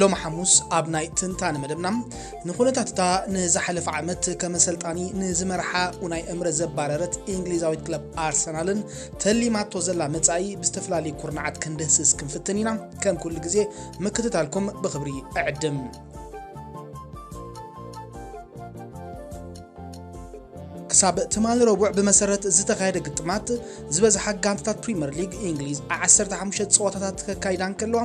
ሎሚ ሓሙስ ኣብ ናይ ትንታነ መደብና ንኩነታት እታ ንዝሓለፈ ዓመት ከም ኣሰልጣኒ ንዝመርሓ ኡናይ እምረ ዘባረረት እንግሊዛዊት ክለብ ኣርሰናልን ተሊማቶ ዘላ መጻኢ ብዝተፈላለዩ ኩርናዓት ክንድህስስ ክንፍትን ኢና። ከም ኩሉ ግዜ ምክትታልኩም ብክብሪ እዕድም። ክሳብ ትማሊ ረቡዕ ብመሰረት ዝተኻየደ ግጥማት ዝበዝሓ ጋንታታት ፕሪምየር ሊግ እንግሊዝ 15 ፀወታታት ከካይዳ እንከለዋ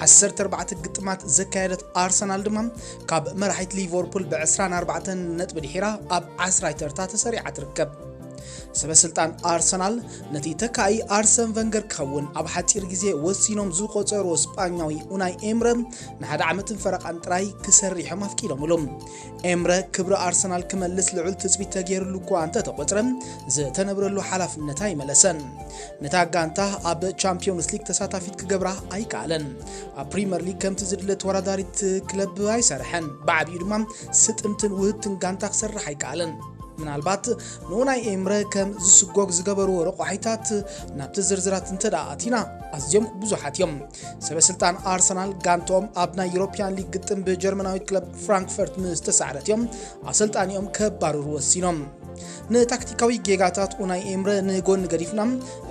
14 ግጥማት ዘካየደት ኣርሰናል ድማ ካብ መራሒት ሊቨርፑል ብ24 ነጥቢ ድሒራ ኣብ ዓስራይ ተርታ ተሰሪዓ ትርከብ ሰበስልጣን ኣርሰናል ነቲ ተካኢ ኣርሰን ቨንገር ክኸውን ኣብ ሓፂር ግዜ ወሲኖም ዝቆፀርዎ ስጳኛዊ ኡናይ ኤምረ ንሓደ ዓመትን ፈረቓን ጥራይ ክሰርሖም ኣፍቂዶምሉ ኤምረ ክብሪ ኣርሰናል ክመልስ ልዑል ትጽቢት ተገይርሉ እኳ እንተተቖጽረ ዝተነብረሉ ሓላፍነት ኣይመለሰን። ነታ ጋንታ ኣብ ቻምፒዮንስ ሊግ ተሳታፊት ክገብራ ኣይከኣለን። ኣብ ፕሪምየር ሊግ ከምቲ ዝድለ ተወዳዳሪት ክለብ ኣይሰርሐን። ብዓብዩ ድማ ስጥምትን ውህብትን ጋንታ ክሰርሕ ኣይከኣለን። ምናልባት ንኡ ናይ ኤምረ ከም ዝስጎግ ዝገበርዎ ረቋሒታት ናብቲ ዝርዝራት እንተ ኣቲና ኣዝዮም ብዙሓት እዮም። ሰበስልጣን ኣርሰናል ጋንትኦም ኣብ ናይ ዩሮፕያን ሊግ ግጥም ብጀርመናዊ ክለብ ፍራንክፈርት ምስ ተሳዕረት እዮም ኣሰልጣኒኦም ከባርሩ ወሲኖም ንታክቲካዊ ጌጋታት ኡናይ ኤምረ ንጎኒ ገዲፍና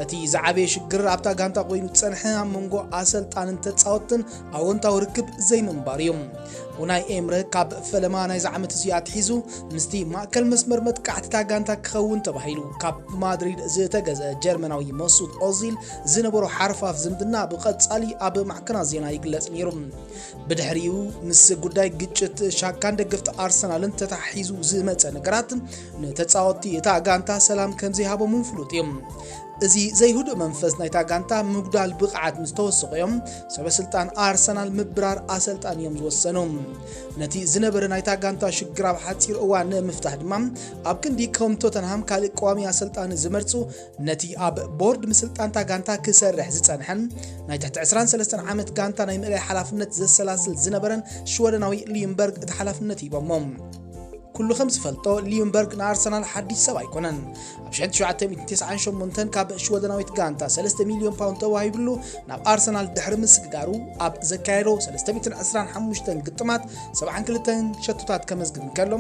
እቲ ዝዓበየ ሽግር ኣብታ ጋንታ ኮይኑ ዝፀንሐ ኣብ መንጎ ኣሰልጣንን ተፃወትን ኣወንታዊ ርክብ ዘይምንባር እዩ ኡናይ ኤምረ ካብ ፈለማ ናይዚ ዓመት እዚ ኣትሒዙ ምስቲ ማእከል መስመር መጥቃዕቲታ ጋንታ ክኸውን ተባሂሉ ካብ ማድሪድ ዝተገዘ ጀርመናዊ መሱት ኦዚል ዝነበሮ ሓርፋፍ ዝምድና ብቐጻሊ ኣብ ማዕከናት ዜና ይግለጽ ነይሩ። ብድሕሪኡ ምስ ጉዳይ ግጭት ሻካን ደገፍቲ ኣርሰናልን ተታሒዙ ዝመጸ ነገራት ንተጻወትቲ እታ ጋንታ ሰላም ከምዘይሃቦም እውን ፍሉጥ እዩ። እዚ ዘይህዱእ መንፈስ ናይታ ጋንታ ምጉዳል ብቕዓት ምስ ተወሰቑ እዮም ሰበስልጣን ኣርሰናል ምብራር ኣሰልጣን እዮም ዝወሰኑ ነቲ ዝነበረ ናይታ ጋንታ ሽግር ኣብ ሓፂር እዋን ንምፍታሕ ድማ ኣብ ክንዲ ከም ቶተንሃም ካልእ ቀዋሚ ኣሰልጣኒ ዝመርፁ ነቲ ኣብ ቦርድ ምስልጣን'ታ ጋንታ ክሰርሕ ዝጸንሐን ናይ ትሕቲ ዕስራን ሰለስተን ዓመት ጋንታ ናይ ምእላይ ሓላፍነት ዘሰላስል ዝነበረን ሽወደናዊ ሊዩምበርግ እቲ ሓላፍነት ሂቦሞ። ኩሉ ከም ዝፈልጦ ሊዩምበርግ ንኣርሰናል ሓድሽ ሰብ ኣይኮነን። ኣብ 1998 ካብ ሽወደናዊት ጋንታ 3 ሚልዮን ፓውንድ ተዋሂብሉ ናብ ኣርሰናል ድሕሪ ምስግጋሩ ኣብ ዘካየዶ 325 ግጥማት 72 ሸቶታት ከመዝግብ እንከሎ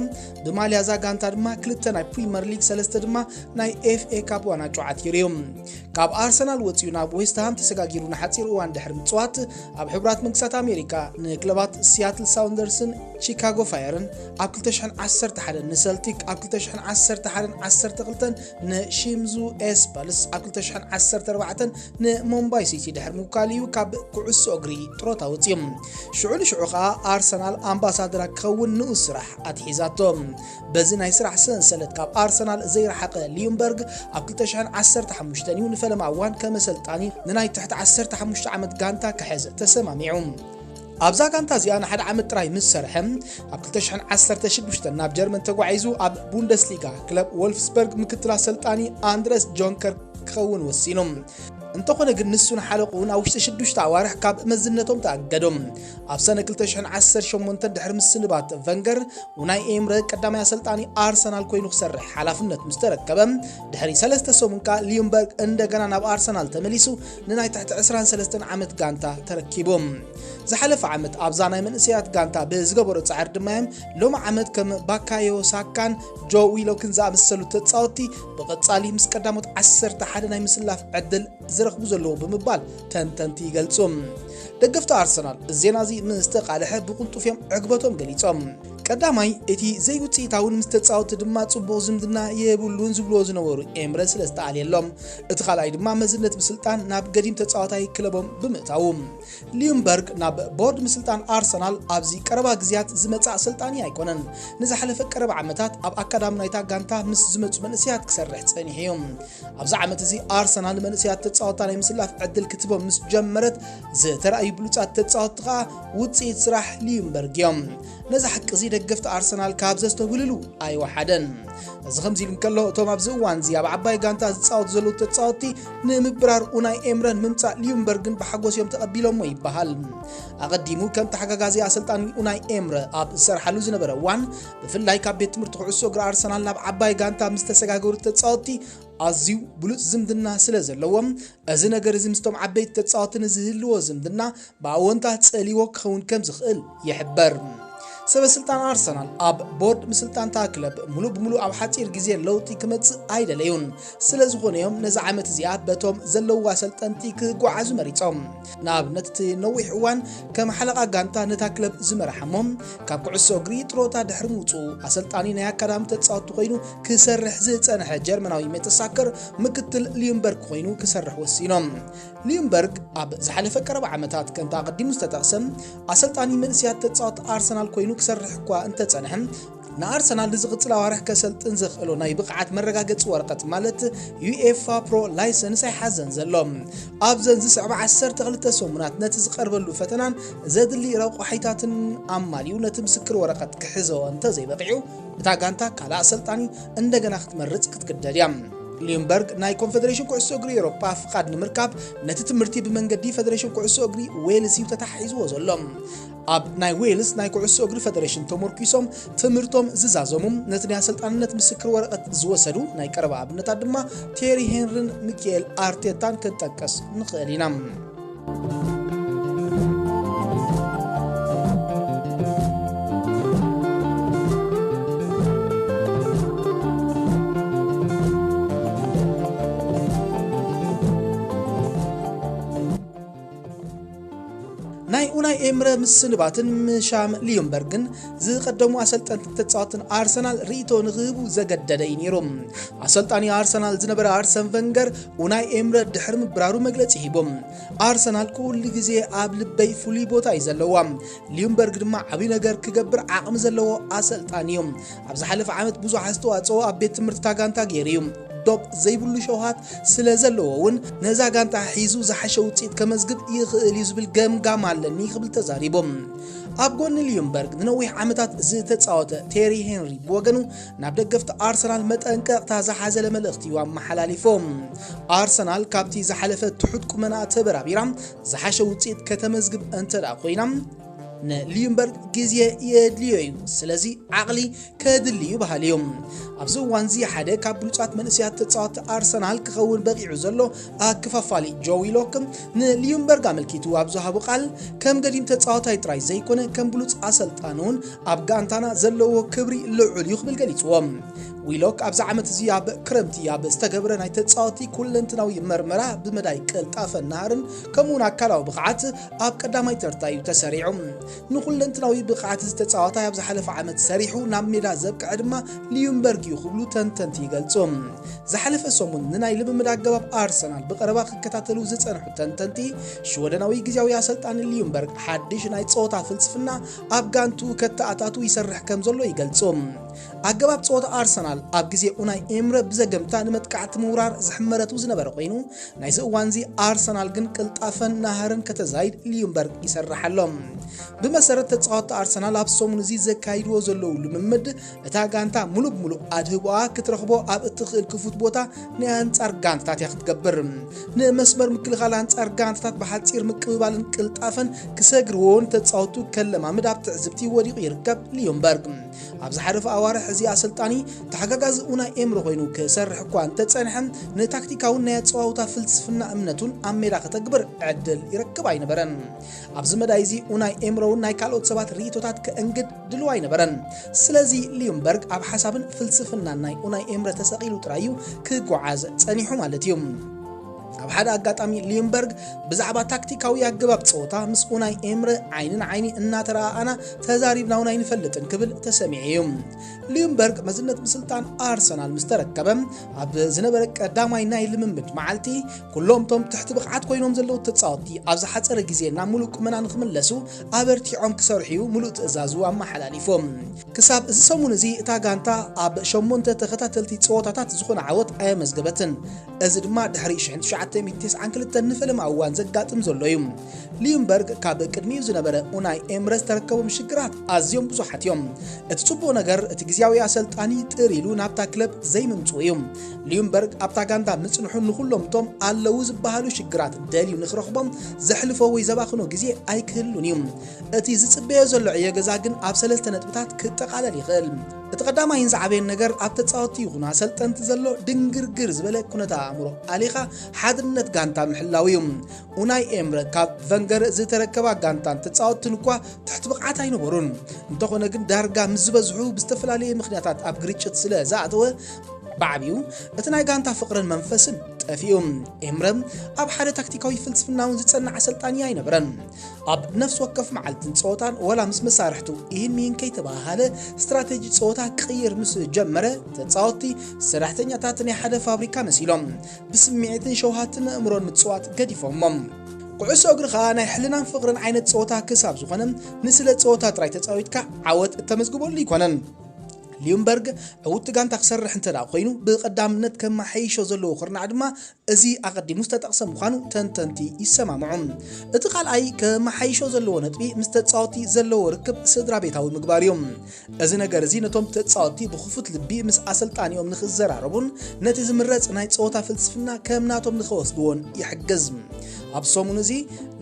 ብማልያ እዛ ጋንታ ድማ ክልተ ናይ ፕሪምየር ሊግ ሰለስተ ድማ ናይ ኤፍኤ ካፕ ዋናጩ ዓቲሩ እዩ ካብ ኣርሰናል ወፂኡ ናብ ዌስትሃም ተሰጋጊሩ ንሓፂር እዋን ድሕሪ ምፅዋት ኣብ ሕቡራት መንግስታት ኣሜሪካ ንክለባት ሲያትል ሳውንደርስን ቺካጎ ፋየርን ኣብ 211 ንሰልቲክ ኣብ 211 12 ንሺምዙ ኤስፐልስ ኣብ 214 ንሞምባይ ሲቲ ድሕሪ ምውካል እዩ ካብ ኩዕሶ እግሪ ጥሮታ ወፂኦም ሽዑ ንሽዑ ከዓ ኣርሰናል ኣምባሳደራ ክኸውን ንኡስ ስራሕ ኣትሒዛቶ በዚ ናይ ስራሕ ሰንሰለት ካብ ኣርሰናል ዘይረሓቐ ሊዩምበርግ ኣብ 2015 እዩ ንፈለማ እዋን ከመሰልጣኒ ንናይ ትሕቲ 15 ዓመት ጋንታ ክሕዝ ተሰማሚዑ። ኣብዛ ጋንታ እዚኣ ንሓደ ዓመት ጥራይ ምስ ሰርሐ ኣብ 2016 ናብ ጀርመን ተጓዒዙ ኣብ ቡንደስሊጋ ክለብ ወልፍስበርግ ምክትል ኣሰልጣኒ ኣንድረስ ጆንከር ክኸውን ወሲኑ እንተኾነ ግን ንሱን ሓለቑን ኣብ ውሽጢ ሽዱሽተ ኣዋርሕ ካብ መዝነቶም ተኣገዶም ኣብ ሰነ ክልተ ሽሕን ዓሰርተ ሸሞንተን ድሕሪ ምስንባት ቨንገር፣ ኡናይ ኤምረ ቀዳማይ ኣሰልጣኒ ኣርሰናል ኮይኑ ክሰርሕ ሓላፍነት ምስ ተረከበ ድሕሪ ሰለስተ ሰሙን ከኣ ሊዩምበርግ እንደገና ናብ ኣርሰናል ተመሊሱ ንናይ ትሕቲ ዕስራን ሰለስተን ዓመት ጋንታ ተረኪቡ። ዝሓለፈ ዓመት ኣብዛ ናይ መንእሰያት ጋንታ ብዝገበሮ ጻዕሪ ድማ እዮም ሎሚ ዓመት ከም ባካዮ ሳካን ጆ ዊሎክን ዝኣመሰሉ ተጻወትቲ ብቐጻሊ ምስ ቀዳሞት 11 ናይ ምስላፍ ዕድል ዝረኽቡ ዘለዎ ብምባል ተንተንቲ ይገልጹ። ደገፍቲ ኣርሰናል እዚ ዜና እዚ ምስ ተቃልሐ ብቕልጡፍ እዮም ዕግበቶም ገሊጾም። ቀዳማይ እቲ ዘይውጽኢታውን ምስ ተጻወቲ ድማ ጽቡቕ ዝምድና የብሉን ዝብልዎ ዝነበሩ ኤምረ ስለ ዝተኣልየሎም፣ እቲ ካልኣይ ድማ መዝነት ምስልጣን ናብ ገዲም ተጻዋታይ ክለቦም ብምእታዉ። ሊዩምበርግ ናብ ቦርድ ምስልጣን ኣርሰናል ኣብዚ ቀረባ ግዜያት ዝመጽእ ኣሰልጣኒ ኣይኮነን። ንዝሓለፈ ቀረባ ዓመታት ኣብ ኣካዳሚ ናይታ ጋንታ ምስ ዝመጹ መንእሰያት ክሰርሕ ጸኒሑ እዩ። ኣብዚ ዓመት እዚ ኣርሰናል መንእሰያት ተጻወትታ ናይ ምስላፍ ዕድል ክትቦም ምስ ጀመረት ዝተራእዩ ብሉጻት ተጻወትቲ ከኣ ውጽኢት ስራሕ ሊዩምበርግ እዮም ነዚ ሓቂ እዚ ደገፍቲ ኣርሰናል ካብ ዘስተውህልሉ ኣይወሓደን እዚ ከምዚ ኢሉ እንከሎ እቶም ኣብዚ እዋን እዚ ኣብ ዓባይ ጋንታ ዝፃወቱ ዘለዉ ተፃወትቲ ንምብራር ኡናይ ኤምረን ምምፃእ ሊዩምበርግን ብሓጎስ እዮም ተቐቢሎሞ ይበሃል ኣቐዲሙ ከም ተሓጋጋዚ ኣሰልጣኒ ኡናይ ኤምረ ኣብ ዝሰርሓሉ ዝነበረ እዋን ብፍላይ ካብ ቤት ትምህርቲ ኩዕሶ እግሪ ኣርሰናል ናብ ዓባይ ጋንታ ምስ ተሰጋገሩ ተጻወትቲ ኣዝዩ ብሉጽ ዝምድና ስለ ዘለዎም እዚ ነገር እዚ ምስቶም ዓበይቲ ተጻወቲ ንዝህልዎ ዝምድና ብኣወንታ ጸልዎ ክኸውን ከም ዝኽእል ይሕበር። ሰበስልጣን ኣርሰናል ኣብ ቦርድ ምስልጣንታ ክለብ ሙሉእ ብሙሉእ ኣብ ሓፂር ግዜ ለውጢ ክመፅእ ኣይደለዩን። ስለ ዝኾነ እዮም ነዚ ዓመት እዚኣ በቶም ዘለውዋ ኣሰልጠንቲ ክጓዓዙ መሪፆም። ንኣብነት እቲ ነዊሕ እዋን ከም ሓለቓ ጋንታ ነታ ክለብ ዝመርሓ እሞ ካብ ኩዕሶ እግሪ ጥሮታ ድሕሪ ምውፅኡ ኣሰልጣኒ ናይ ኣካዳሚ ተፃወቲ ኮይኑ ክሰርሕ ዝፀንሐ ጀርመናዊ ሜተሳከር ምክትል ሊዩምበርግ ኮይኑ ክሰርሕ ወሲኖም። ሊዩምበርግ ኣብ ዝሓለፈ ቀረባ ዓመታት ከምቲ ኣቐዲሙ ዝተጠቕሰ ኣሰልጣኒ መንእስያት ተፃወቲ ኣርሰናል ኮይኑ ክሰርሕ እኳ እንተፀንሐ ንኣርሰናል ንዝቕጽል ኣዋርሕ ከሰልጥን ዘኽእሎ ናይ ብቕዓት መረጋገጺ ወረቐት ማለት ዩኤፋ ፕሮ ላይሰንስ ኣይሓዘን ዘሎ። ኣብዘን ዝስዕባ 12 ሰሙናት ነቲ ዝቐርበሉ ፈተናን ዘድሊ ረቋሒታትን ኣማሊኡ ነቲ ምስክር ወረቐት ክሕዞ እንተዘይበቒዑ እታ ጋንታ ካልእ ኣሰልጣኒ እንደገና ክትመርጽ ክትግደድ እያ። ሊምበርግ ናይ ኮንፌዴሬሽን ኩዕሶ እግሪ ኤሮፓ ፍቓድ ንምርካብ ነቲ ትምህርቲ ብመንገዲ ፈደሬሽን ኩዕሶ እግሪ ዌልስ እዩ ተታሒዝዎ ዘሎ ኣብ ናይ ዌልስ ናይ ኩዕሶ እግሪ ፈደሬሽን ተሞርኪሶም ትምህርቶም ዝዛዘሙ ነቲ ናይ ኣሰልጣንነት ምስክር ወረቐት ዝወሰዱ ናይ ቀረባ ኣብነታት ድማ ቴሪ ሄንሪን ሚካኤል ኣርቴታን ክንጠቀስ ንኽእል ኢና። ናይ ኡናይ ኤምረ ምስንባትን ምሻም ሊዮንበርግን ዝቐደሙ ኣሰልጠንትን ተፃወትን ኣርሰናል ርእቶ ንክህቡ ዘገደደ እዩ ነይሩ። ኣሰልጣኒ ኣርሰናል ዝነበረ ኣርሰን ቨንገር ኡናይ ኤምረ ድሕሪ ምብራሩ መግለፂ ሂቦም ኣርሰናል ኩሉ ግዜ ኣብ ልበይ ፍሉይ ቦታ እዩ ዘለዋ፣ ሊዮንበርግ ድማ ዓብዪ ነገር ክገብር ዓቕሚ ዘለዎ ኣሰልጣኒ እዩ። ኣብ ዝሓለፈ ዓመት ብዙሕ ኣስተዋጽኦ ኣብ ቤት ትምህርቲታ ጋንታ ገይሩ እዩ። ዶብ ዘይብሉ ሸውሃት ስለ ዘለዎ እውን ነዛ ጋንታ ሒዙ ዝሓሸ ውጽኢት ከመዝግብ ይኽእል እዩ ዝብል ገምጋም ኣለኒ ክብል ተዛሪቡ። ኣብ ጎኒ ሊዩምበርግ ንነዊሕ ዓመታት ዝተጻወተ ቴሪ ሄንሪ ብወገኑ ናብ ደገፍቲ ኣርሰናል መጠንቀቕታ ዝሓዘለ መልእኽቲ እዩ ኣመሓላሊፉ። ኣርሰናል ካብቲ ዝሓለፈ ትሑት ቁመና ተበራቢራ ዝሓሸ ውጽኢት ከተመዝግብ እንተደኣ ኮይና ንልዩምበር ግዜ የድልዮ እዩ ስለዚ ዓቕሊ ከድሊ እዩ በሃሊ እዩ ኣብዚ እዋን እዚ ሓደ ካብ ብሉፃት መንእሰያት ተፃወቲ ኣርሰናል ክኸውን በቂዑ ዘሎ ኣከፋፋሊ ጆ ዊሎክ ንልዩምበርግ ኣመልኪቱ ኣብ ዝሃቦ ቃል ከም ገዲም ተፃዋታይ ጥራይ ዘይኮነ ከም ብሉፅ ኣሰልጣኒ እውን ኣብ ጋንታና ዘለዎ ክብሪ ልዑል እዩ ክብል ገሊፅዎ ዊሎክ ኣብዚ ዓመት እዚ ኣብ ክረምቲ ኣብ ዝተገብረ ናይ ተፃወቲ ኩለንትናዊ መርመራ ብመዳይ ቅልጣፈን ናህርን ከምኡውን ኣካላዊ ብቕዓት ኣብ ቀዳማይ ተርታ እዩ ተሰሪዑ። ንኩለንትናዊ ብቕዓት እዚ ተጻዋታይ ኣብ ዝሓለፈ ዓመት ሰሪሑ ናብ ሜዳ ዘብቅዐ ድማ ሊዩምበርግ እዩ ክብሉ ተንተንቲ ይገልጹ። ዝሓለፈ ሰሙን ንናይ ልምምድ ኣገባብ ኣርሰናል ብቐረባ ክከታተሉ ዝጸንሑ ተንተንቲ፣ ሽወደናዊ ግዝያዊ ኣሰልጣኒ ሊዩምበርግ ሓድሽ ናይ ጸወታ ፍልስፍና ኣብ ጋንትኡ ከተኣታቱ ይሰርሕ ከምዘሎ ይገልጹ። ኣገባብ ጸወታ ኣርሰናል ኣብ ግዜ ኡናይ ኤምረ ብዘገምታ ንመጥቃዕቲ ምውራር ዝሕመረቱ ዝነበረ ኮይኑ ናይዚ እዋንዚ ኣርሰናል ግን ቅልጣፈን ናህርን ከተዛይድ ሊዩምበርግ ይሰርሕ ኣሎ። ብመሰረት ተጻወቲ ኣርሰናል ኣብ ሰሙን እዚ ዘካይድዎ ዘለዉ ልምምድ እታ ጋንታ ሙሉእ ብሙሉእ ኣድህቦኣ ክትረኽቦ ኣብ እትኽእል ክፉት ቦታ ናይ ኣንጻር ጋንታታት እያ ክትገብር። ንመስመር ምክልኻል ኣንጻር ጋንታታት ብሓጺር ምቅብባልን ቅልጣፈን ክሰግርዎን ተጻወቱ ከለማምድ ኣብ ትዕዝብቲ ወዲቑ ይርከብ ሊዮምበርግ። ኣብ ዝሓለፉ ኣዋርሕ እዚ ኣሰልጣኒ ተሓጋጋዚ ኡናይ ኤምሪ ኮይኑ ክሰርሕ እኳ እንተጸንሐ፣ ንታክቲካውን ናይ ኣጸዋውታ ፍልስፍና እምነቱን ኣብ ሜዳ ከተግብር ዕድል ይረክብ ኣይነበረን። ኣብዚ መዳይ እዚ ኡናይ ኤምሮውን ናይ ካልኦት ሰባት ርእይቶታት ከእንግድ ድሉው ኣይነበረን። ስለዚ ሊዩምበርግ ኣብ ሓሳብን ፍልስፍናን ናይ ኡናይ ኤምረ ተሰቒሉ ጥራይ እዩ ክጓዓዝ ጸኒሑ ማለት እዩ። ኣብ ሓደ ኣጋጣሚ ሊዩምበርግ ብዛዕባ ታክቲካዊ ኣገባብ ጸወታ ምስ ኡናይ ኤምረ ዓይኒ ንዓይኒ እናተረኣኣና ተዛሪብና እውን ኣይንፈልጥን ክብል ተሰሚዑ እዩ። ሊዩምበርግ መዝነት ምስልጣን ኣርሰናል ምስ ተረከበ ኣብ ዝነበረ ቀዳማይ ናይ ልምምድ መዓልቲ ኩሎም እቶም ትሕቲ ብቕዓት ኮይኖም ዘለዉ ተጻወቲ ኣብ ዝሓጸረ ግዜ ናብ ሙሉእ ቁመና ንክምለሱ ኣበርቲዖም ክሰርሑ እዩ ሙሉእ ትእዛዙ ኣመሓላሊፎም። ክሳብ እዚ ሰሙን እዚ እታ ጋንታ ኣብ ሸሞንተ ተኸታተልቲ ጸወታታት ዝኾነ ዓወት ኣየመዝገበትን። እዚ ድማ ድሕሪ ሽሕን ትሽዓተ ሚእቲ ተስዓን ክልተን ንፈለማ እዋን ዘጋጥም ዘሎ እዩ። ሊዩምበርግ ካብ ቅድሚኡ ዝነበረ ኡናይ ኤምረ ዝተረከቦም ሽግራት ኣዝዮም ብዙሓት እዮም። እቲ ጽቡቕ ነገር እቲ ግዝያዊ ኣሰልጣኒ ጥር ኢሉ ናብታ ክለብ ዘይምምጽኡ እዩ። ሊዩምበርግ ኣብታ ጋንታ ምጽንሑ ንኹሎም እቶም ኣለዉ ዝበሃሉ ሽግራት ደልዩ ንክረኽቦም ዘሕልፎ ወይ ዘባኽኖ ግዜ ኣይክህሉን እዩ። እቲ ዝጽበዮ ዘሎ ዕዮ ገዛ ግን ኣብ ሰለስተ ነጥብታት ክጠቓለል ይኽእል። እቲ ቀዳማይን ዝዓበየን ነገር ኣብ ተጻወቲ ይኹኑ ኣሰልጠንቲ ዘሎ ድንግርግር ዝበለ ኩነተ ኣእምሮ ኣሊኻ ሓድነት ጋንታ ምሕላው እዩ። ኡናይ ኤምረ ካብ ቨንገር ዝተረከባ ጋንታን ተጻወትን እኳ ትሕቲ ብቕዓት ኣይነበሩን። እንተኾነ ግን ዳርጋ ምስ ዝበዝሑ ብዝተፈላለየ ምኽንያታት ኣብ ግርጭት ስለ ዝኣተወ፣ ብዓቢኡ እቲ ናይ ጋንታ ፍቕርን መንፈስን ጠፊኡ። ኤምረ ኣብ ሓደ ታክቲካዊ ፍልስፍናውን ዝጸንዕ ኣሰልጣኒ ኣይነበረን። ኣብ ነፍሲ ወከፍ መዓልትን ጸወታን ወላ ምስ መሳርሕቱ ኢህን ሚህን ከይተበሃሃለ ስትራቴጂ ጸወታ ክቕይር ምስ ጀመረ ተጻወትቲ ሰራሕተኛታት ናይ ሓደ ፋብሪካ መሲሎም ብስምዒትን ሸውሃትን ኣእምሮን ምጽዋት ገዲፎሞም ኩዕሶ እግሪ ኸኣ ናይ ሕልናን ፍቕርን ዓይነት ጸወታ ክሳብ ዝኾነ ንስለ ጸወታ ጥራይ ተጻዊትካ ዓወት እተመዝግበሉ ኣይኮነን። ሊዩምበርግ ዕውቲ ጋንታ ክሰርሕ እንተ ኮይኑ ብቐዳምነት ከመሓይሾ ዘለዎ ኩርናዕ ድማ እዚ ኣቐዲሙ ዝተጠቕሰ ምዃኑ ተንተንቲ ይሰማምዑ። እቲ ካልኣይ ከመሓይሾ ዘለዎ ነጥቢ ምስ ተጻወትቲ ዘለዎ ርክብ ስድራቤታዊ ምግባር እዩ። እዚ ነገር እዚ ነቶም ተጻወትቲ ብኽፉት ልቢ ምስ ኣሰልጣኒኦም ንኽዘራረቡን ነቲ ዝምረጽ ናይ ጸወታ ፍልስፍና ከም ናቶም ንኽወስድዎን ይሕግዝ። ኣብ ሰሙን እዚ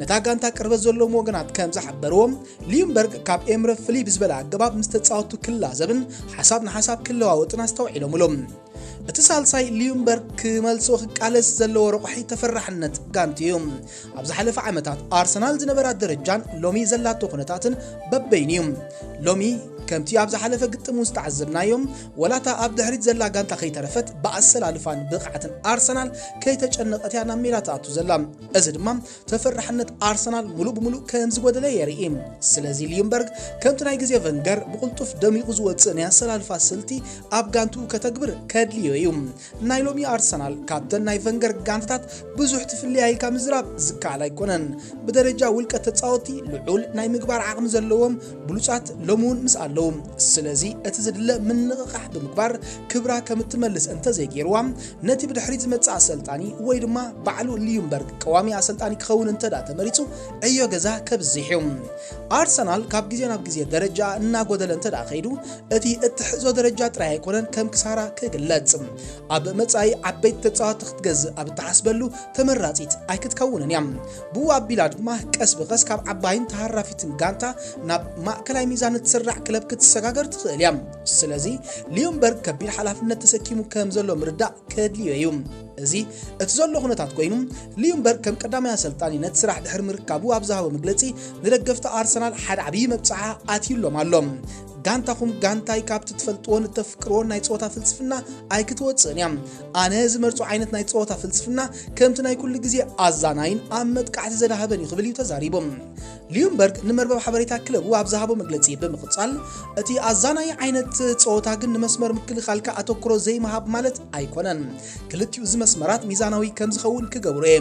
ነታ ጋንታ ቅርበት ዘለዎም ወገናት ከም ዝሓበርዎ ሊዩምበርግ ካብ ኤምረ ፍልይ ብዝበለ ኣገባብ ምስ ተጻወትቱ ክላዘብን ሓሳብ ንሓሳብ ክለዋወጥን ኣስተውዒሎምሉ። እቲ ሳልሳይ ሊዩምበርግ ክመልሶ ክቃለስ ዘለዎ ረቋሒ ተፈራሕነት ጋንት እዩ። ኣብ ዝሓለፈ ዓመታት ኣርሰናል ዝነበራ ደረጃን ሎሚ ዘላቶ ኩነታትን በበይኑ እዩ። ሎሚ ከምቲ ኣብ ዝሓለፈ ግጥም እውን ዝተዓዘብናዮም ወላታ ኣብ ድሕሪት ዘላ ጋንታ ከይተረፈት ብኣሰላልፋን ብቕዓትን ኣርሰናል ከይተጨነቐት እያ ናብ ሜዳ ትኣቱ ዘላ እዚ ድማ ተፈራሕነት ኣርሰናል ሙሉእ ብሙሉእ ከም ዝጎደለ የርኢ። ስለዚ ሊዩምበርግ ከምቲ ናይ ግዜ ቨንገር ብቕልጡፍ ደሚቑ ዝወጽእ ናይ ኣሰላልፋ ስልቲ ኣብ ጋንትኡ ከተግብር ከድልዮ እዩ። ናይ ሎሚ ኣርሰናል ካብተን ናይ ቨንገር ጋንታታት ብዙሕ ትፍልያ ኢልካ ምዝራብ ዝከኣል ኣይኮነን። ብደረጃ ውልቀ ተጻወቲ ልዑል ናይ ምግባር ዓቕሚ ዘለዎም ብሉጻት ሎሚ እውን ምስ ኣለዉ። ስለዚ እቲ ዝድለ ምንቕቓሕ ብምግባር ክብራ ከም እትመልስ እንተዘይገይርዋ፣ ነቲ ብድሕሪት ዝመጽእ ኣሰልጣኒ ወይ ድማ ባዕሉ ልዩምበርግ ቀዋሚ ኣሰልጣኒ ክኸውን እንተድኣ ተመሪጹ ዕዮ ገዛ ከብዝሕ እዩ። ኣርሰናል ካብ ግዜ ናብ ግዜ ደረጃኣ እናጎደለ እንተድኣ ከይዱ እቲ እትሕዞ ደረጃ ጥራይ ኣይኮነን ከም ክሳራ ክግለጽ። ኣብ መጻኢ ዓበይቲ ተጻወትቲ ክትገዝእ ኣብ እትሓስበሉ ተመራጺት ኣይክትከውንን እያ። ብኡ ኣቢላ ድማ ቀስ ብቐስ ካብ ዓባይን ተሃራፊትን ጋንታ ናብ ማእከላይ ሚዛን እትስራዕ ክለብ ክትሰጋገር ትኽእል እያ። ስለዚ ሊዮንበርግ ከቢድ ሓላፍነት ተሰኪሙ ከም ዘሎ ምርዳእ ከድልዮ እዩ። እዚ እቲ ዘሎ ኩነታት ኮይኑ ሊዮንበርግ ከም ቀዳማይ ኣሰልጣኒ ነቲ ስራሕ ድሕሪ ምርካቡ ኣብ ዝሃቦ መግለጺ ንደገፍቲ ኣርሰናል ሓደ ዓብዪ መብጽዓ ኣትዩሎም ኣሎ። ጋንታኹም ጋንታይ ካብቲ ትፈልጥዎን እተፍቅርዎን ናይ ጸወታ ፍልስፍና ኣይክትወጽእን እያ። ኣነ ዝመርጾ ዓይነት ናይ ጸወታ ፍልስፍና ከምቲ ናይ ኩሉ ግዜ ኣዛናይን ኣብ መጥቃዕቲ ዘዳህበን እዩ ክብል እዩ ተዛሪቡ ሊዩምበርግ ንመርበብ ሓበሬታ ክለቡ ኣብ ዝሃቦ መግለጺ ብምቕጻል እቲ ኣዛናይ ዓይነት ጸወታ ግን ንመስመር ምክልኻልካ ኣተኩሮ ዘይምሃብ ማለት ኣይኮነን ክልቲኡ እዚ መስመራት ሚዛናዊ ከም ዝኸውን ክገብሩ እየ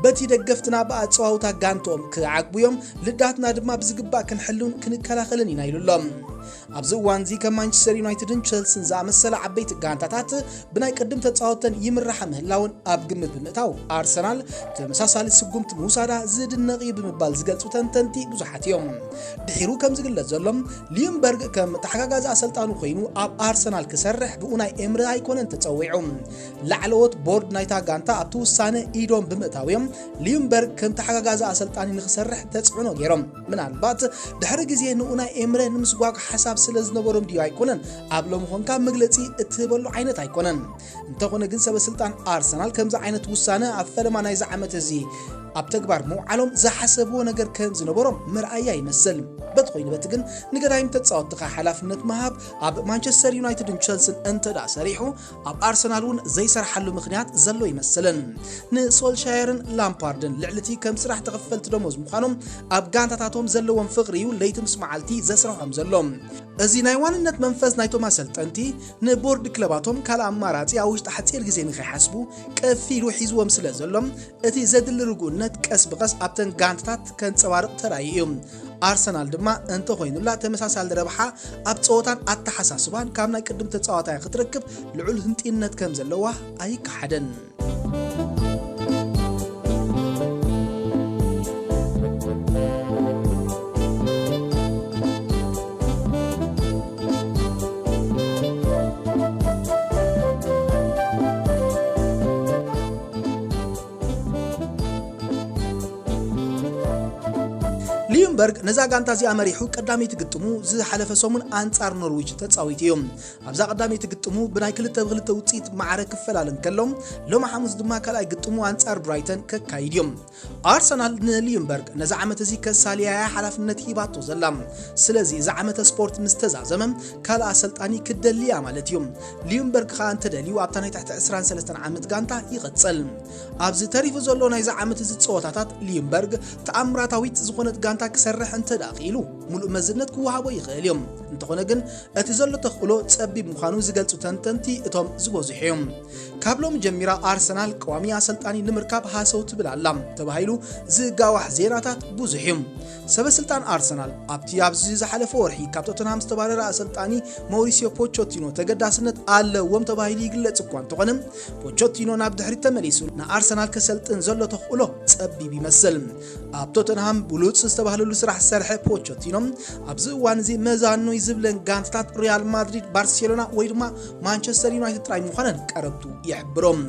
በቲ ደገፍትና ብኣጸዋውታ ጋንትኦም ክዓግቡ እዮም ልዳትና ድማ ብዝግባእ ክንሕሉን ክንከላኸልን ኢና ኢሉ ኣሎ ኣብዚ እዋንዚ ከም ማንቸስተር ዩናይትድን ቸልሲን ዝኣመሰላ ዓበይቲ ጋንታታት ብናይ ቅድም ተጻወተን ይምራሓ ምህላወን ኣብ ግምት ብምእታው ኣርሰናል ተመሳሳሊ ስጉምቲ ምውሳዳ ዝድነቕ እዩ ብምባል ዝገልጹ ተንተንቲ ብዙሓት እዮም። ድሒሩ ከም ዝግለጽ ዘሎ ሊምበርግ ከም ተሓጋጋዚ ኣሰልጣኑ ኮይኑ ኣብ ኣርሰናል ክሰርሕ ብኡ ናይ ኤምሪ ኣይኮነን ተጸዊዑ። ላዕለዎት ቦርድ ናይታ ጋንታ ኣብቲ ውሳነ ኢዶም ብምእታው እዮም ሊምበርግ ከም ተሓጋጋዚ ኣሰልጣኒ ንክሰርሕ ተጽዕኖ ገይሮም። ምናልባት ድሕሪ ግዜ ንኡ ናይ ኤምረ ንምስጓግ ሓሳብ ስለ ዝነበሮም ድዩ ኣይኮነን ኣብ ሎሚ ኮንካ መግለጺ እትህበሉ ዓይነት ኣይኮነን። እንተኾነ ግን ሰበስልጣን ኣርሰናል ከምዚ ዓይነት ውሳነ ኣብ ፈለማ ናይዚ ዓመት እዚ ኣብ ተግባር ምውዓሎም ዝሓሰብዎ ነገር ከም ዝነበሮም መርኣያ ይመስል። በቲ ኮይኑ በቲ ግን ንገዳይም ተጻወትኻ ሓላፍነት ምሃብ ኣብ ማንቸስተር ዩናይትድን ቸልስን እንተድኣ ሰሪሑ ኣብ ኣርሰናል እውን ዘይሰርሓሉ ምኽንያት ዘሎ ይመስልን። ንሶልሻየርን ላምፓርድን ልዕሊቲ ከም ስራሕ ተኸፈልቲ ደሞዝ ምዃኖም ኣብ ጋንታታቶም ዘለዎም ፍቕሪ እዩ ለይቲ ምስ መዓልቲ ዘስርሖም ዘሎ። እዚ ናይ ዋንነት መንፈስ ናይቶም ኣሰልጠንቲ ንቦርድ ክለባቶም ካልእ ኣማራፂ ኣብ ውሽጢ ሓፂር ግዜ ንኸይሓስቡ ቀፊሉ ሒዝዎም ስለ ዘሎ እቲ ዘድሊ ርጉእነት ቀስ ብቐስ ኣብተን ጋንታታት ከንፀባርቕ ተራእዩ እዩ። ኣርሰናል ድማ እንተኾይኑላ ተመሳሳሊ ረብሓ ኣብ ጸወታን ኣተሓሳስባን ካብ ናይ ቅድም ተጻዋታያ ክትረክብ ልዑል ህንጢነት ከም ዘለዋ ኣይከሓደን። ሊዩምበርግ ነዛ ጋንታ እዚኣ መሪሑ ቀዳመይቲ ግጥሙ ዝሓለፈ ሰሙን ኣንጻር ኖርዊች ተጻዊቱ እዩ። ኣብዛ ቀዳመይቲ ግጥሙ ብናይ ክልተ ብክልተ ውጽኢት ማዕረ ክፈላለ እንከሎ ሎሚ ሓሙስ ድማ ካልኣይ ግጥሙ ኣንጻር ብራይተን ከካይድ እዩ። ኣርሰናል ንሊዩምበርግ ነዚ ዓመት እዚ ከሳልያ እያ ሓላፍነት ሂባቶ ዘላ። ስለዚ እዚ ዓመተ ስፖርት ምስ ተዛዘመ ካልእ ኣሰልጣኒ ክትደሊ እያ ማለት እዩ። ሊዩምበርግ ከኣ እንተደልዩ ኣብታ ናይ ትሕቲ ዕስራን ሰለስተን ዓመት ጋንታ ይቕጽል። ኣብዚ ተሪፉ ዘሎ ናይዚ ዓመት እዚ ጸወታታት ሊዩምበርግ ተኣምራታዊት ዝኾነት ጋንታ ክሰርሕ እንተድኣ ክኢሉ ምሉእ መዝነት ክወሃቦ ይኽእል እዩ። እንተኾነ ግን እቲ ዘሎ ተኽእሎ ጸቢብ ምዃኑ ዝገልጹ ተንተንቲ እቶም ዝበዝሑ እዮም። ካብ ሎሚ ጀሚራ ኣርሰናል ቀዋሚ ኣሰልጣኒ ንምርካብ ሃሰው ትብል ኣላ ተባሂሉ ዝጋዋሕ ዜናታት ብዙሕ እዩ። ሰበስልጣን ኣርሰናል ኣብቲ ኣብዚ ዝሓለፈ ወርሒ ካብ ቶተንሃም ዝተባረረ ኣሰልጣኒ መውሪሲዮ ፖቾቲኖ ተገዳስነት ኣለዎም ተባሂሉ ይግለጽ እኳ እንተኾነ ፖቾቲኖ ናብ ድሕሪት ተመሊሱ ንኣርሰናል ከሰልጥን ዘሎ ተኽእሎ ጸቢብ ይመስል። ኣብ ቶተንሃም ብሉጽ ዝተባህለሉ ስራሕ ዝሰርሐ ፖቾቲኖ ኣብዚ እዋን እዚ መዛኖይ ዝብለን ጋንታታት ሪያል ማድሪድ፣ ባርሴሎና ወይ ድማ ማንቸስተር ዩናይትድ ጥራይ ምዃነን ቀረብቱ ይሕብሮም።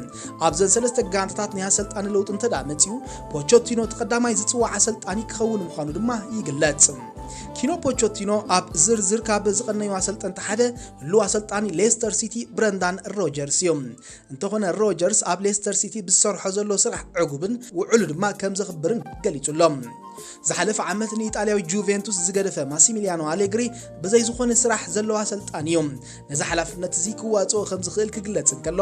ኣብዘን ሰለስተ ጋንታታት ናይ ኣሰልጣኒ ለውጢ እንተደኣ መጺኡ ፖቾቲኖ እቲ ቀዳማይ ዝጽዋዕ ኣሰልጣኒ ክኸውን ምዃኑ ድማ ይግለጽ። ኪኖ ፖቾቲኖ ኣብ ዝርዝር ካብ ዝቐነዩ ኣሰልጠንቲ ሓደ ህሉው ኣሰልጣኒ ሌስተር ሲቲ ብረንዳን ሮጀርስ እዩ። እንተኾነ ሮጀርስ ኣብ ሌስተር ሲቲ ብዝሰርሖ ዘሎ ስራሕ ዕጉብን ውዕሉ ድማ ከም ዘኽብርን ገሊጹ ኣሎ። ዝሓለፈ ዓመት ንኢጣልያዊ ጁቬንቱስ ዝገደፈ ማሲሚሊያኖ ኣሌግሪ ብዘይ ዝኾነ ስራሕ ዘለዎ ኣሰልጣኒ እዩ። ነዚ ሓላፍነት እዚ ክዋጽኦ ከም ዝኽእል ክግለጽ እንከሎ፣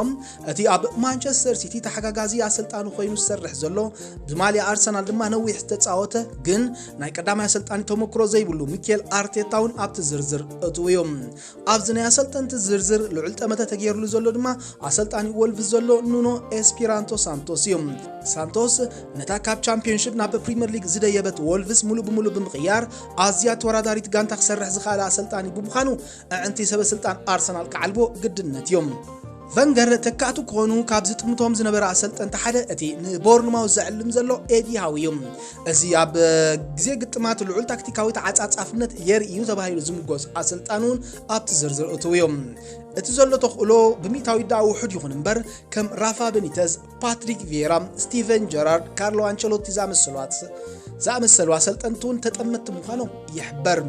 እቲ ኣብ ማንቸስተር ሲቲ ተሓጋጋዚ ኣሰልጣኒ ኮይኑ ዝሰርሕ ዘሎ፣ ብማልያ ኣርሰናል ድማ ነዊሕ ዝተጻወተ ግን ናይ ቀዳማይ ኣሰልጣኒ ተመክሮ ዘይብሉ ሚኬል ኣርቴታ እውን ኣብቲ ዝርዝር እትው እዩ። ኣብዚ ናይ ኣሰልጠንቲ ዝርዝር ልዑል ጠመተ ተገይርሉ ዘሎ ድማ ኣሰልጣኒ ወልቭስ ዘሎ ኑኖ ኤስፒራንቶ ሳንቶስ እዩ። ሳንቶስ ነታ ካብ ቻምፒዮንሽፕ ናብ ፕሪምየር ሊግ ዝደየበት ወልቭስ ሙሉእ ብሙሉእ ብምቕያር ኣዝያ ተወዳዳሪት ጋንታ ክሰርሕ ዝኽኣለ ኣሰልጣኒ ብምዃኑ ኣዕንቲ ሰበስልጣን ኣርሰናል ክዓልቦ ግድነት እዩ። ቨንገር ተካእቱ ክኾኑ ካብ ዝጥምቶም ዝነበረ ኣሰልጠንቲ ሓደ እቲ ንቦርንማውዝ ዘዕልም ዘሎ ኤዲ ሃው እዩ። እዚ ኣብ ግዜ ግጥማት ልዑል ታክቲካዊ ተዓጻጻፍነት የርኢ እዩ ተባሂሉ ዝምጎስ ኣሰልጣኒ እውን ኣብቲ ዝርዝር እትው እዩ። እቲ ዘሎ ተኽእሎ ብሚእታዊት ደኣ ውሑድ ይኹን እምበር ከም ራፋ በኒተዝ፣ ፓትሪክ ቪየራ፣ ስቲቨን ጀራርድ፣ ካርሎ ኣንቸሎቲ ዝኣመሰሉ ኣሰልጠንቲ እውን ተጠመቲ ምዃኖም ይሕበር።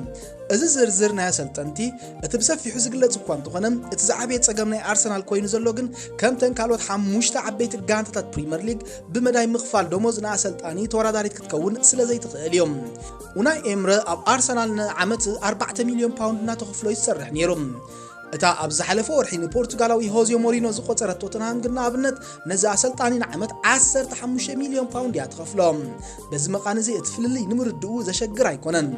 እዚ ዝርዝር ናይ ኣሰልጠንቲ እቲ ብሰፊሑ ዝግለጽ እኳ እንተኾነ እቲ ዝዓበየ ጸገም ናይ ኣርሰናል ኮይኑ ዘሎ ግን ከምተን ካልኦት ሓሙሽተ ዓበይቲ ጋንታታት ፕሪምየር ሊግ ብመዳይ ምኽፋል ደሞዝ ንኣሰልጣኒ ተወዳዳሪት ክትከውን ስለ ዘይትኽእል እዮም። ኡናይ ኤምረ ኣብ ኣርሰናል ንዓመት 4 ሚልዮን ፓውንድ እናተኸፍሎ ይሰርሕ ነይሩ። እታ ኣብ ዝሓለፈ ወርሒ ንፖርቱጋላዊ ሆዜ ሞሪኖ ዝቆጸረት ቶተንሃም ግን ንኣብነት ነዚ ኣሰልጣኒ ንዓመት 15 ሚልዮን ፓውንድ እያ ትኸፍሎ በዚ መቓን እዚ እቲ ፍልልይ ንምርድኡ ዘሸግር ኣይኮነን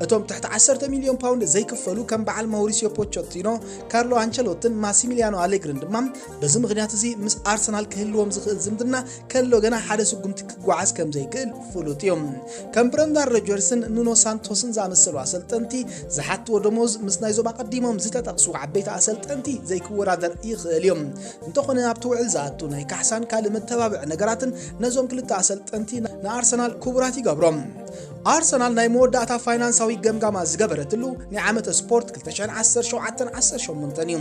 እቶም ትሕቲ 10 ሚልዮን ፓውንድ ዘይክፈሉ ከም በዓል ማውሪሲዮ ፖቸቲኖ ካርሎ ኣንቸሎትን ማሲሚሊያኖ ኣሌግርን ድማ በዚ ምኽንያት እዚ ምስ ኣርሰናል ክህልዎም ዝኽእል ዝምድና ከሎ ገና ሓደ ስጉምቲ ክጓዓዝ ከም ዘይክእል ፍሉጥ እዩ። ከም ብረንዳን ሮጀርስን ኑኖ ሳንቶስን ዝኣመሰሉ ኣሰልጠንቲ ዝሓትዎ ደሞዝ ምስ ናይዞም ኣቐዲሞም ዝተጠቕሱ ዓበይቲ ኣሰልጠንቲ ዘይክወዳደር ይኽእል እዩ። እንተኾነ ኣብቲ ውዕል ዝኣቱ ናይ ካሕሳን ካልእ መተባብዒ ነገራትን ነዞም ክልተ ኣሰልጠንቲ ንኣርሰናል ክቡራት ይገብሮም። ኣርሰናል ናይ መወዳእታ ፋይናንሳዊ ገምጋማ ዝገበረትሉ ናይ ዓመተ ስፖርት 2017-18 እዩ።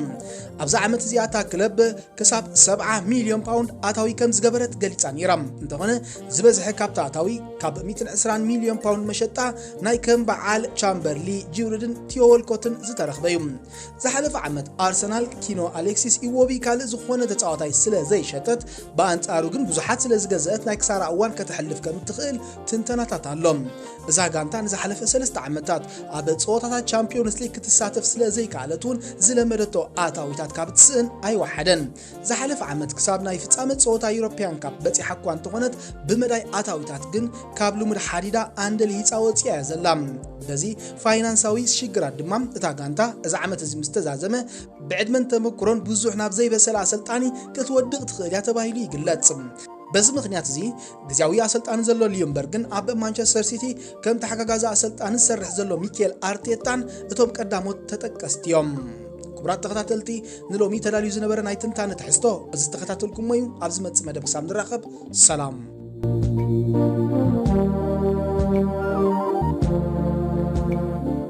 ኣብዛ ዓመት እዚኣ እታ ክለብ ክሳብ 70 ሚልዮን ፓውንድ ኣታዊ ከም ዝገበረት ገሊጻ ነይራ እንተኾነ ዝበዝሐ ካብቲ ኣታዊ ካብ 120 ሚልዮን ፓውንድ መሸጣ ናይ ከም በዓል ቻምበርሊ ጂውርድን ቲዮ ወልኮትን ዝተረኽበ እዩ ዝሓለፈ ዓመት ኣርሰናል ኪኖ ኣሌክሲስ ኢዎቢ ካልእ ዝኾነ ተፃዋታይ ስለ ዘይሸጠት ብኣንጻሩ ግን ብዙሓት ስለ ዝገዘአት ናይ ክሳራ እዋን ከተሕልፍ ከም እትኽእል ትንተናታት ኣሎ እዛ ጋንታ ንዝሓለፈ ሰለስተ ዓመታት ኣብ ጸወታታት ቻምፒዮንስ ሊግ ክትሳተፍ ስለ ዘይከኣለት እውን ዝለመደቶ ኣታዊታት ካብ ትስእን ኣይወሓደን። ዝሓለፈ ዓመት ክሳብ ናይ ፍጻመ ጸወታ ዩሮፕያን ካፕ በጺሓ እኳ እንተኾነት ብመዳይ ኣታዊታት ግን ካብ ልሙድ ሓዲዳ ኣንደ ልሂፃ ወፂኣ እያ ዘላ። በዚ ፋይናንሳዊ ሽግራት ድማ እታ ጋንታ እዚ ዓመት እዚ ምስ ተዛዘመ ብዕድመን ተመክሮን ብዙሕ ናብ ዘይበሰለ ኣሰልጣኒ ክትወድቕ ትኽእል እያ ተባሂሉ ይግለጽ። በዚ ምክንያት እዚ ግዝያዊ ኣሰልጣኒ ዘሎ ሊዮንበርግን ኣብ ማንቸስተር ሲቲ ከም ተሓጋጋዚ ኣሰልጣኒ ዝሰርሕ ዘሎ ሚኬል ኣርቴታን እቶም ቀዳሞት ተጠቀስቲ እዮም። ክቡራት ተኸታተልቲ ንሎሚ ተዳልዩ ዝነበረ ናይ ትንታነ ትሕዝቶ እዚ ዝተኸታተልኩሞ እዩ። ኣብ ዝመፅእ መደብ ክሳብ ንራኸብ ሰላም።